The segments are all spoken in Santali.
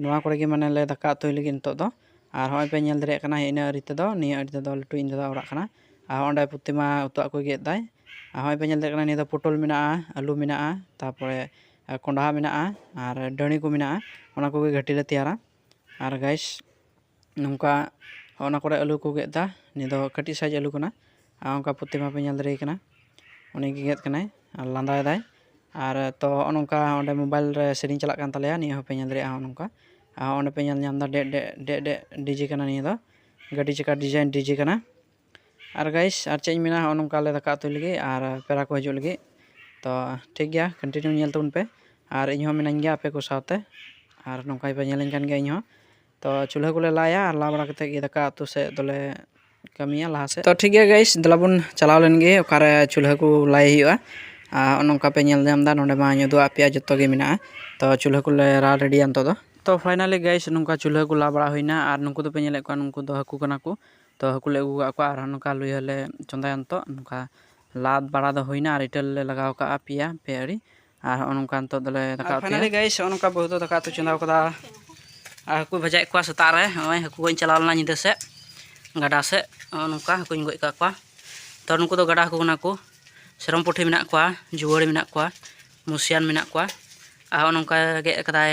ᱱᱚᱣᱟ ᱠᱚᱨᱮ ᱜᱮ ᱢᱟᱱᱮ ᱞᱮ ᱫᱟᱠᱟ ᱩᱛᱩᱭ ᱞᱟᱹᱜᱤᱫ ᱱᱤᱛᱚᱜ ᱫᱚ ᱟᱨ ᱦᱚᱸᱜᱼᱚᱭ ᱯᱮ ᱧᱮᱞ ᱫᱟᱲᱮᱭᱟᱜ ᱠᱟᱱᱟ ᱤᱱᱟᱹ ᱟᱲᱮ ᱛᱮᱫᱚ ᱱᱤᱭᱟᱹ ᱟᱲᱮ ᱛᱮᱫᱚ ᱞᱟᱹᱴᱩ ᱤᱧ ᱫᱟᱫᱟᱣᱟᱜ ᱚᱲᱟᱜ ᱠᱟᱱᱟ ᱟᱨ ᱚᱸᱰᱮ ᱯᱨᱚᱛᱤᱢᱟ ᱩᱛᱩᱣᱟᱜ ᱠᱚᱭ ᱜᱮᱫ ᱮᱫᱟᱭ ᱟᱨ ᱦᱚᱸᱜᱼᱚᱭ ᱯᱮ ᱧᱮᱞ ᱫᱟᱲᱮᱭᱟᱜ ᱠᱟᱱᱟ ᱱᱤᱭᱟᱹ ᱫᱚ ᱯᱚᱴᱚᱞ ᱢᱮᱱᱟᱜᱼᱟ ᱟᱹᱞᱩ ᱢᱮᱱᱟᱜᱼᱟ ᱛᱟᱨᱯᱚᱨᱮ ᱠᱚᱸᱰᱷᱟ ᱢᱮᱱᱟᱜᱼᱟ ᱟᱨ ᱰᱟᱹᱲᱤ ᱠᱚ ᱢᱮᱱᱟᱜᱼᱟ ᱚᱱᱟ ᱠᱚᱜᱮ ᱜᱷᱟᱹᱴᱤ ᱞᱮ ᱛᱮᱭᱟᱨᱟ ᱟᱨ ᱜᱟᱭᱤᱥ ᱱᱚᱝᱠᱟ ᱚᱱᱟ ᱠᱚᱨᱮ ᱟᱹᱞᱩ ᱠᱚ ᱜᱮᱫ ᱮᱫᱟ ᱱᱤᱭᱟᱹ ᱫᱚ ᱠᱟᱹᱴᱤᱡ ᱥᱟᱭᱤᱡ ᱟᱹᱞᱩ ᱠᱟᱱᱟ ᱟᱨ ᱚᱱᱠᱟ ᱯᱨᱚᱛᱤ ᱢᱟᱯᱮ ᱧᱮᱞ ᱫᱟᱲᱮᱭᱟᱭ ᱠᱟᱱᱟ ᱩᱱᱤ ᱜᱮ ᱜᱮᱫ ᱠᱟᱱᱟᱭ ᱟᱨ ᱞᱟᱸᱫᱟᱭᱮᱫᱟᱭ ᱟᱨ ᱛᱚ ᱦᱚᱸᱜᱼᱚ ᱱᱚᱝᱠᱟ ᱚᱸᱰᱮ ᱢᱳᱵᱟᱭᱤᱞ ᱨᱮ ᱥᱮᱨᱮᱧ ᱪᱟᱞᱟᱜ ᱠᱟᱱ ᱛᱟᱞᱮᱭᱟ ᱱᱤᱭᱟᱹ ᱦᱚᱸᱯᱮ ᱧᱮᱞ ᱫᱟᱲᱮᱭᱟᱜᱼᱟ ᱦᱚᱸᱜᱼᱚ ᱱᱚᱝᱠᱟ ᱟᱨ ᱚᱸᱰᱮ ᱯᱮ ᱧᱮᱞ ᱧᱟᱢᱫᱟ ᱰᱮᱜ ᱰᱮᱜ ᱰᱮᱜ ᱰᱮᱜ ᱰᱤᱡᱮ ᱠᱟᱱᱟ ᱱᱤᱭᱟᱹ ᱫᱚ ᱜᱟᱹᱰᱤ ᱪᱟᱠᱟ ᱰᱤᱡᱟᱭᱤᱱ ᱰᱤᱡᱮ ᱠᱟᱱᱟ ᱟᱨ ᱜᱟᱭᱤᱥ ᱟᱨ ᱪᱮᱫ ᱤᱧ ᱢᱮᱱᱟ ᱦᱚᱸᱜᱼᱚ ᱱᱚᱝᱠᱟ ᱟᱞᱮ ᱫᱟᱠᱟ ᱩᱛᱩᱭ ᱞᱟᱹᱜᱤᱫ ᱟᱨ ᱯᱮᱲᱟ ᱠᱚ ᱦᱤᱡᱩᱜ ᱞᱟᱹᱜᱤᱫ ᱛᱚ ᱴᱷᱤᱠ ᱜᱮᱭᱟ ᱠᱚᱱᱴᱤᱱᱤᱭᱩ ᱧᱮᱞ ᱛᱟᱵᱚᱱ ᱯᱮ ᱟᱨ ᱤᱧ ᱦᱚᱸ ᱢᱤᱱᱟᱹᱧ ᱜᱮᱭᱟ ᱟᱯᱮ ᱠᱚ ᱥᱟᱶᱛᱮ ᱟᱨ ᱱᱚᱝᱠᱟ ᱜᱮᱯᱮ ᱧᱮᱞᱤᱧ ᱠᱟᱱ ᱜᱮᱭᱟ ᱤᱧ ᱦᱚᱸ ᱛᱚ ᱪᱩᱞᱦᱟᱹ ᱠᱚᱞᱮ ᱞᱟᱭᱟ ᱟᱨ ᱞᱟ ᱵᱟᱲᱟ ᱠᱟᱛᱮᱫ ᱜᱮ ᱫᱟᱠᱟ ᱩᱛᱩ ᱥᱮᱫ ᱫᱚᱞᱮ ᱠᱟᱹᱢᱤᱭᱟ ᱞᱟᱦᱟ ᱥᱮᱫ ᱛᱚ ᱴᱷᱤᱠ ᱜᱮᱭᱟ ᱜᱟᱭᱤᱥ ᱫᱮᱞᱟ ᱵᱚᱱ ᱪᱟᱞᱟᱣ ᱞᱮᱱ ᱜᱮ ᱚᱠᱟᱨᱮ ᱪᱩᱞᱦᱟᱹ ᱠᱚ ᱞᱟᱭ ᱦᱩᱭᱩᱜᱼᱟ ᱟᱨ ᱱᱚᱜᱼᱚ ᱱᱚᱝᱠᱟ ᱯᱮ ᱧᱮᱞ ᱧᱟᱢᱫᱟ ᱱᱚᱰᱮ ᱢᱟᱧ ᱩᱫᱩᱜ ᱟᱫ ᱯᱮᱭᱟ ᱡᱚᱛᱚ ᱜᱮ ᱢᱮᱱᱟᱜᱼᱟ ᱛᱚ ᱪᱩᱞᱦᱟᱹ ᱠᱚᱞᱮ ᱞᱟ ᱨᱮᱰᱤᱭᱟ ᱱᱤᱛᱚᱜ ᱫᱚ ᱛᱚ ᱯᱷᱟᱭᱱᱟᱞᱤ ᱜᱟᱭᱤᱥ ᱱᱚᱝᱠᱟ ᱪᱩᱞᱦᱟᱹ ᱠᱚ ᱞᱟ ᱵᱟᱲᱟ ᱦᱩᱭᱱᱟ ᱟᱨ ᱱᱩᱠᱩ ᱫᱚᱯᱮ ᱧᱮᱞᱮᱫ ᱠᱚᱣᱟ ᱱᱩᱠᱩ ᱫᱚ ᱦᱟᱹᱠᱩ ᱠᱟᱱᱟ ᱠᱚ ᱛᱚ ᱦᱟᱹᱠᱩ ᱞᱮ ᱟᱹᱜᱩ ᱟᱠᱟᱫ ᱠᱚᱣᱟ ᱟᱨ ᱱᱚᱝᱠᱟ ᱞᱩᱭᱦᱟᱹ ᱞᱮ ᱪᱚᱸᱫᱟᱭᱟ ᱱᱤᱛᱚᱜ ᱱᱚᱝᱠᱟ ᱞᱟ ᱵᱟᱲᱟ ᱫᱚ ᱦᱩᱭᱱᱟ ᱟᱨ ᱤᱴᱟᱹ ᱞᱮ ᱞᱟᱜᱟᱣ ᱠᱟᱜᱼᱟ ᱯᱮᱭᱟ ᱯᱮ ᱟᱹᱲᱤ ᱟᱨ ᱦᱚᱸᱜᱼᱚ ᱱᱚᱝᱠᱟ ᱱᱤᱛᱚᱜ ᱫᱚᱞᱮ ᱫᱟᱠᱟ ᱩᱛᱩᱭᱟ ᱯᱷᱟᱭᱱᱟᱞᱤ ᱜᱟᱭᱤᱥ ᱦᱚᱸᱜᱼᱚ ᱱᱚᱝᱠᱟ ᱵᱟᱹᱦᱩ ᱫᱚ ᱫᱟᱠᱟ ᱩᱛᱩ ᱪᱚᱸᱫᱟ ᱠᱟᱫᱟ ᱟᱨ ᱦᱟᱹᱠᱩ ᱵᱷᱟᱡᱟᱭᱮᱫ ᱠᱚᱣᱟ ᱥᱮᱛᱟᱜ ᱨᱮ ᱱᱚᱜᱼᱚᱭ ᱦᱟᱹᱠᱩ ᱜᱚᱡ ᱤᱧ ᱪᱟᱞᱟᱣ ᱞᱮᱱᱟ ᱧᱤᱫᱟᱹ ᱥᱮᱫ ᱜᱟᱰᱟ ᱥᱮᱫ ᱦᱚᱸᱜᱼᱚ ᱱᱚᱝᱠᱟ ᱦᱟᱹᱠᱩᱧ ᱜᱚᱡ ᱠᱟᱜ ᱠᱚᱣᱟ ᱛᱚ ᱱᱩᱠᱩ ᱫᱚ ᱜᱟᱰᱟ ᱦᱟᱹᱠᱩ ᱠᱟᱱᱟ ᱠᱚ ᱥᱮᱨᱚᱢ ᱯᱩᱴᱷᱤ ᱢᱮᱱᱟᱜ ᱠᱚᱣᱟ ᱡᱩᱣᱟᱹᱲᱤ ᱢᱮᱱᱟᱜ ᱠᱚᱣᱟ ᱢᱩᱥᱤᱭᱟᱱ ᱢᱮᱱᱟᱜ ᱠᱚᱣᱟ ᱟᱨ ᱦᱚᱸᱜᱼᱚ ᱱᱚᱝᱠᱟ ᱜᱮᱫ ᱠᱟᱫᱟᱭ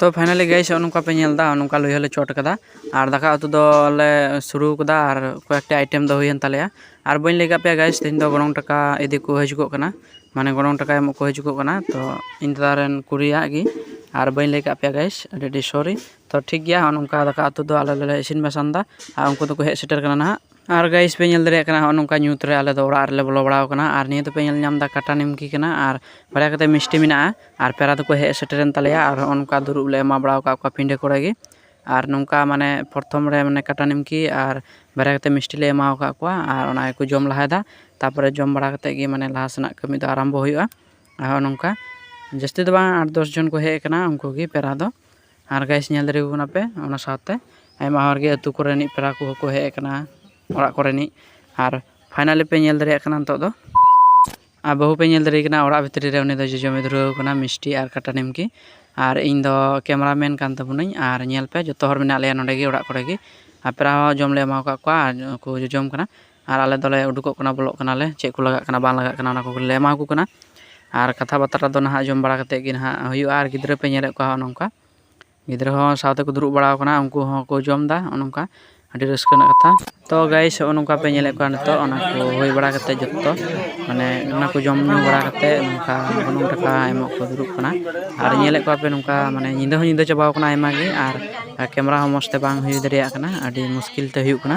ᱛᱚ ᱯᱷᱟᱭᱱᱟᱞᱤ ᱜᱟᱭᱤᱥ ᱱᱚᱜᱼᱚ ᱱᱚᱝᱠᱟ ᱯᱮ ᱧᱮᱞ ᱮᱫᱟ ᱱᱚᱝᱠᱟ ᱞᱩᱭᱦᱟᱹ ᱦᱚᱸᱞᱮ ᱪᱚᱴ ᱠᱟᱫᱟ ᱟᱨ ᱫᱟᱠᱟ ᱩᱛᱩ ᱫᱚᱞᱮ ᱥᱩᱨᱩ ᱠᱟᱫᱟ ᱟᱨ ᱠᱚᱭᱮᱠᱴᱤ ᱟᱭᱴᱮᱢ ᱫᱚ ᱦᱩᱭᱮᱱ ᱛᱟᱞᱮᱭᱟ ᱟᱨ ᱵᱟᱹᱧ ᱞᱟᱹᱭ ᱠᱟᱜ ᱯᱮᱭᱟ ᱜᱟᱭᱤᱥ ᱛᱮᱦᱮᱧ ᱫᱚ ᱜᱚᱱᱚᱝ ᱴᱟᱠᱟ ᱤᱫᱤ ᱠᱚ ᱦᱤᱡᱩᱜᱚᱜ ᱠᱟᱱᱟ ᱢᱟᱱᱮ ᱜᱚᱱᱚᱝ ᱴᱟᱠᱟ ᱮᱢᱚᱜ ᱠᱚ ᱦᱤᱡᱩᱜᱚᱜ ᱠᱟᱱᱟ ᱛᱚ ᱤᱧ ᱫᱟᱫᱟ ᱨᱮᱱ ᱠᱩᱲᱤᱭᱟᱜ ᱜᱮ ᱟᱨ ᱵᱟᱹᱧ ᱞᱟᱹᱭ ᱠᱟᱜ ᱯᱮᱭᱟ ᱜᱟᱭᱤᱥ ᱟᱹᱰᱤ ᱟᱹᱰᱤ ᱥᱚᱨᱤ ᱛᱚ ᱴᱷᱤᱠ ᱜᱮᱭᱟ ᱱᱚᱜᱼᱚ ᱱᱚᱝᱠᱟ ᱫᱟᱠᱟ ᱩᱛᱩ ᱫᱚ ᱟᱞᱮ ᱫᱚᱞᱮ ᱤᱥᱤᱱ ᱵᱟᱥᱟᱝ ᱮᱫᱟ ᱟᱨ ᱩᱱᱠᱩ ᱫᱚᱠᱚ ᱦᱮᱡ ᱥᱮᱴᱮᱨ ᱠᱟᱱᱟ ᱱᱟᱦᱟᱜ ᱟᱨ ᱜᱟᱭᱤᱥ ᱯᱮ ᱧᱮᱞ ᱫᱟᱲᱮᱭᱟᱜ ᱠᱟᱱᱟ ᱦᱚᱸᱜᱼᱚ ᱱᱚᱝᱠᱟ ᱧᱩᱛ ᱨᱮ ᱟᱞᱮ ᱫᱚ ᱚᱲᱟᱜ ᱨᱮᱞᱮ ᱵᱚᱞᱚ ᱵᱟᱲᱟᱣ ᱠᱟᱱᱟ ᱟᱨ ᱱᱤᱭᱟᱹ ᱫᱚᱯᱮ ᱧᱮᱞ ᱧᱟᱢᱫᱟ ᱠᱟᱴᱟ ᱱᱤᱢᱠᱤ ᱠᱟᱱᱟ ᱟᱨ ᱵᱟᱨᱭᱟ ᱠᱟᱛᱮ ᱢᱤᱥᱴᱤ ᱢᱮᱱᱟᱜᱼᱟ ᱟᱨ ᱯᱮᱲᱟ ᱫᱚᱠᱚ ᱦᱮᱡ ᱥᱮᱴᱮᱨᱮᱱ ᱛᱟᱞᱮᱭᱟ ᱟᱨ ᱦᱚᱸᱜᱼᱚ ᱱᱚᱝᱠᱟ ᱫᱩᱲᱩᱵ ᱞᱮ ᱮᱢᱟ ᱵᱟᱲᱟᱣ ᱠᱟᱜ ᱠᱚᱣᱟ ᱯᱤᱸᱰᱟᱹ ᱠᱚᱨᱮ ᱜᱮ ᱟᱨ ᱱᱚᱝᱠᱟ ᱢᱟᱱᱮ ᱯᱨᱚᱛᱷᱚᱢ ᱨᱮ ᱢᱟᱱᱮ ᱠᱟᱴᱟ ᱱᱤᱢᱠᱤ ᱟᱨ ᱵᱟᱨᱭᱟ ᱠᱟᱛᱮ ᱢᱤᱥᱴᱤ ᱞᱮ ᱮᱢᱟᱣ ᱠᱟᱜ ᱠᱚᱣᱟ ᱟᱨ ᱚᱱᱟ ᱜᱮᱠᱚ ᱡᱚᱢ ᱞᱟᱦᱟᱭᱫᱟ ᱛᱟᱯᱚᱨᱮ ᱡᱚᱢ ᱵᱟᱲᱟ ᱠᱟᱛᱮ ᱜᱮ ᱢᱟᱱᱮ ᱞᱟᱦᱟ ᱥᱮᱱᱟᱜ ᱠᱟᱹᱢᱤ ᱫᱚ ᱟᱨᱟᱢᱵᱚ ᱦᱩᱭᱩᱜᱼᱟ ᱟᱨ ᱦᱚᱸᱜᱼᱚ ᱱᱚᱝᱠᱟ ᱡᱟᱹᱥᱛᱤ ᱫᱚ ᱵᱟᱝ ᱟᱴ ᱫᱚᱥ ᱡᱚᱱ ᱠᱚ ᱦᱮᱡ ᱠᱟᱱᱟ ᱩᱱᱠᱩ ᱜᱮ ᱯᱮᱲᱟ ᱫᱚ ᱟᱨ ᱜᱟᱭᱤᱥ ᱧᱮᱞ ᱫᱟᱲᱮᱭᱟᱠᱚ ᱠᱟᱱᱟ ᱯᱮ ᱚᱱᱟ ᱥᱟᱶᱛᱮ ᱟᱭᱢᱟ ᱦᱚᱲ ᱜᱮ ᱟᱹᱛᱩ ᱠᱚᱨᱮᱱᱤᱡ ᱯᱮᱲᱟ ᱠᱚ ᱦᱚᱸ ᱠᱚ ᱦᱮᱡ ᱟᱠᱟᱱᱟ ᱚᱲᱟᱜ ᱠᱚᱨᱮᱱᱤᱡ ᱟᱨ ᱯᱷᱟᱭᱱᱟᱞᱤ ᱯᱮ ᱧᱮᱞ ᱫᱟᱲᱮᱭᱟᱜ ᱠᱟᱱᱟ ᱱᱤᱛᱚᱜ ᱫᱚ ᱟᱨ ᱵᱟᱹᱦᱩ ᱯᱮ ᱧᱮᱞ ᱫᱟᱲᱮᱭᱟᱭ ᱠᱟᱱᱟ ᱚᱲᱟᱜ ᱵᱷᱤᱛᱨᱤ ᱨᱮ ᱩᱱᱤ ᱫᱚ ᱡᱚᱡᱚᱢᱮ ᱫᱷᱩᱨᱟᱹᱣ ᱟᱠᱟᱱᱟ ᱢᱤᱥᱴᱤ ᱟᱨ ᱠᱟᱴᱟ ᱱᱤᱢᱠᱤ ᱟᱨ ᱤᱧ ᱫᱚ ᱠᱮᱢᱮᱨᱟ ᱢᱮᱱ ᱠᱟᱱ ᱛᱟᱵᱚᱱᱟᱹᱧ ᱟᱨ ᱧᱮᱞ ᱯᱮ ᱡᱚᱛᱚ ᱦᱚᱲ ᱢᱮᱱᱟᱜ ᱞᱮᱭᱟ ᱱᱚᱰᱮ ᱜᱮ ᱚᱲᱟᱜ ᱠᱚᱨᱮ ᱜᱮ ᱟᱨ ᱯᱮᱲᱟ ᱦᱚᱸ ᱡᱚᱢ ᱞᱮ ᱮᱢᱟᱣᱟᱠᱟᱫ ᱠᱚᱣᱟ ᱟᱨ ᱠᱚ ᱡᱚᱡᱚᱢ ᱠᱟᱱᱟ ᱟᱨ ᱟᱞᱮ ᱫᱚᱞᱮ ᱩᱰᱩᱠᱚᱜ ᱠᱟᱱᱟ ᱵᱚᱞᱚᱜ ᱠᱟᱱᱟᱞᱮ ᱪᱮᱫ ᱠᱚ ᱞᱟᱜᱟᱜ ᱠᱟᱱᱟ ᱵᱟᱝ ᱞᱟᱜᱟᱜ ᱠᱟᱱᱟ ᱚᱱᱟ ᱠᱚ ᱞᱮ ᱮᱢᱟ ᱠᱚ ᱠᱟᱱᱟ ᱟᱨ ᱠᱟᱛᱷᱟ ᱵᱟᱛᱨᱟ ᱫᱚ ᱱᱟᱦᱟᱜ ᱡᱚᱢ ᱵᱟᱲᱟ ᱠᱟᱛᱮᱫ ᱜᱮ ᱱᱟᱦᱟᱜ ᱦᱩᱭᱩᱜᱼᱟ ᱟᱨ ᱜᱤᱫᱽᱨᱟᱹ ᱯᱮ ᱧᱮᱞᱮᱫ ᱠᱚᱣᱟ ᱦᱚᱸᱜᱼᱚ ᱱᱚᱝᱠᱟ ᱜᱤᱫᱽᱨᱟᱹ ᱦᱚᱸ ᱥᱟᱶᱛᱮ ᱠᱚ ᱫᱩᱲᱩᱵ ᱵᱟᱲᱟᱣ ᱠᱟᱱᱟ ᱩᱱᱠᱩ ᱦᱚᱸ ᱠᱚ ᱡᱚᱢᱫᱟ ᱦᱚᱸᱜᱼᱚ ᱱᱚᱝᱠᱟ ᱟᱹᱰᱤ ᱨᱟᱹᱥᱠᱟᱹ ᱨᱮᱱᱟᱜ ᱠᱟᱛᱷᱟ ᱛᱚ ᱜᱟᱭᱤᱥ ᱦᱚᱸᱜᱼᱚ ᱱᱚᱝᱠᱟ ᱯᱮ ᱧᱮᱞᱮᱫ ᱠᱚᱣᱟ ᱱᱤᱛᱚᱜ ᱚᱱᱟ ᱠᱚ ᱦᱩᱭ ᱵᱟᱲᱟ ᱠᱟᱛᱮᱫ ᱡᱚᱛᱚ ᱢᱟᱱᱮ ᱚᱱᱟ ᱠᱚ ᱡᱚᱢ ᱧᱩ ᱵᱟᱲᱟ ᱠᱟᱛᱮᱫ ᱱᱚᱝᱠᱟ ᱜᱚᱱᱚᱝ ᱴᱟᱠᱟ ᱮᱢᱚᱜ ᱠᱚ ᱫᱩᱲᱩᱵ ᱠᱟᱱᱟ ᱟᱨ ᱧᱮᱞᱮᱫ ᱠᱚᱣᱟ ᱯᱮ ᱱᱚᱝᱠᱟ ᱢᱟᱱᱮ ᱧᱤᱫᱟᱹ ᱦᱚᱸ ᱧᱤᱫᱟᱹ ᱪᱟᱵᱟᱣ ᱠᱟᱱᱟ ᱟᱭᱢᱟ ᱜᱮ ᱟᱨ ᱠᱮᱢᱮᱨᱟ ᱦᱚᱸ ᱢᱚᱡᱽ ᱛᱮ ᱵᱟᱝ ᱦᱩᱭ ᱫᱟᱲᱮᱭᱟᱜ ᱠᱟᱱᱟ ᱟᱹᱰᱤ ᱢᱩᱥᱠᱤᱞ ᱛᱮ ᱦᱩᱭᱩᱜ ᱠᱟᱱᱟ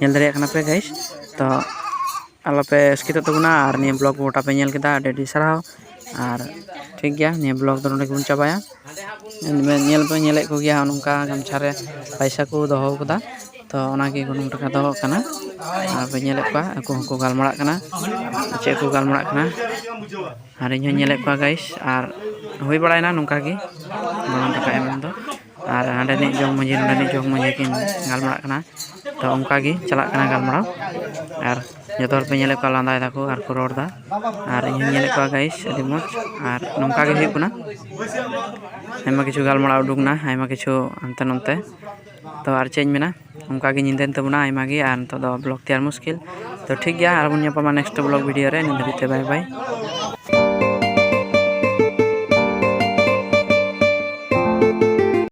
ᱧᱮᱞ ᱫᱟᱲᱮᱭᱟᱜ ᱠᱟᱱᱟ ᱯᱮ ᱜᱟᱭᱤᱥ ᱛᱚ ᱟᱞᱚ ᱯᱮ ᱟᱥᱠᱮᱛᱚᱜ ᱛᱟᱵᱚᱱᱟ ᱟᱨ ᱱᱤᱭᱟᱹ ᱵᱞᱚᱜᱽ ᱜᱚᱴᱟ ᱯᱮ ᱧᱮᱞ ᱠᱮᱫᱟ ᱟᱹᱰᱤ ᱟᱹᱰᱤ ᱥᱟᱨᱦᱟᱣ ᱟᱨ ᱴᱷᱤᱠ ᱜᱮᱭᱟ ᱱᱤᱭᱟᱹ ᱵᱞᱚᱜᱽ ᱫᱚ ᱱᱚᱰᱮ ᱜᱮᱵᱚᱱ ᱪᱟᱵᱟᱭᱟ ᱧᱮᱞ ᱯᱮ ᱧᱮᱞᱮᱫ ᱠᱚᱜᱮᱭᱟ ᱱᱚᱝᱠᱟ ᱜᱟᱢᱪᱷᱟ ᱨᱮ ᱯᱚᱭᱥᱟ ᱠᱚ ᱫᱚᱦᱚ ᱠᱟᱫᱟ ᱛᱚ ᱚᱱᱟᱜᱮ ᱜᱚᱱᱚᱝ ᱴᱟᱠᱟ ᱫᱚ ᱠᱟᱱᱟ ᱟᱨ ᱯᱮ ᱧᱮᱞᱮᱫ ᱠᱚᱣᱟ ᱟᱠᱚ ᱦᱚᱸᱠᱚ ᱜᱟᱞᱢᱟᱨᱟᱜ ᱠᱟᱱᱟ ᱪᱮᱫ ᱠᱚ ᱜᱟᱞᱢᱟᱨᱟᱜ ᱠᱟᱱᱟ ᱟᱨ ᱤᱧ ᱦᱚᱸᱧ ᱧᱮᱞᱮᱫ ᱠᱚᱣᱟ ᱜᱟᱭᱤᱥ ᱟᱨ ᱦᱩᱭ ᱵᱟᱲᱟᱭᱱᱟ ᱱᱚᱝᱠᱟ ᱜᱮ ᱜᱚᱱᱚᱝ ᱴᱟᱠᱟ ᱮᱢ ᱫᱚ ᱟᱨ ᱦᱟᱸᱰᱮᱱᱤᱡ ᱡᱚᱜᱽ ᱢᱟᱺᱡᱷᱤ ᱱᱚᱸᱰᱮᱱᱤᱡ ᱡᱚᱜᱽ ᱢᱟᱺᱡᱷᱤ ᱠᱤᱱ ᱜᱟᱞᱢᱟᱨᱟᱜ ᱠᱟᱱᱟ ᱛᱚ ᱚᱱᱠᱟ ᱜᱮ ᱪᱟᱞᱟᱜ ᱠᱟᱱᱟ ᱜᱟᱞᱢᱟᱨᱟᱣ ᱟᱨ ᱡᱚᱛᱚ ᱦᱚᱲ ᱯᱮ ᱧᱮᱞᱮᱫ ᱠᱚᱣᱟ ᱞᱟᱸᱫᱟᱭ ᱫᱟᱠᱚ ᱟᱨ ᱠᱚ ᱨᱚᱲ ᱮᱫᱟ ᱟᱨ ᱤᱧ ᱦᱚᱸᱧ ᱧᱮᱞᱮᱫ ᱠᱚᱣᱟ ᱜᱟᱭᱤᱥ ᱟᱹᱰᱤ ᱢᱚᱡᱽ ᱟᱨ ᱱᱚᱝᱠᱟ ᱜᱮ ᱦᱩᱭᱩᱜ ᱠᱟᱱᱟ ᱟᱭᱢᱟ ᱠᱤᱪᱷᱩ ᱜᱟᱞᱢᱟᱨᱟᱣ ᱩᱰᱩᱠ ᱮᱱᱟ ᱟᱭᱢᱟ ᱠᱤᱪᱷᱩ ᱦᱟᱱᱛᱮ ᱱᱟᱛᱮ ᱛᱚ ᱟᱨ ᱪᱮᱫ ᱤᱧ ᱢᱮᱱᱟ ᱚᱱᱠᱟ ᱜᱮ ᱧᱤᱫᱟᱹᱭᱮᱱ ᱛᱟᱵᱚᱱᱟ ᱟᱭᱢᱟ ᱜᱮ ᱟᱨ ᱱᱤᱛᱚᱜ ᱫᱚ ᱵᱞᱚᱜᱽ ᱛᱮᱭᱟᱨ ᱢᱩᱥᱠᱤᱞ ᱛᱚ ᱴᱷᱤᱠ ᱜᱮᱭᱟ ᱟᱨ ᱵᱚᱱ ᱧᱟᱯᱟᱢᱟ ᱱᱮᱠᱥᱴ ᱵᱞᱚᱜᱽ ᱵᱷᱤᱰᱤᱭᱳ ᱨᱮ ᱱᱤᱛ ᱫᱷᱟᱹᱵᱤᱡ ᱛᱮ ᱵᱟᱭ ᱵᱟᱭ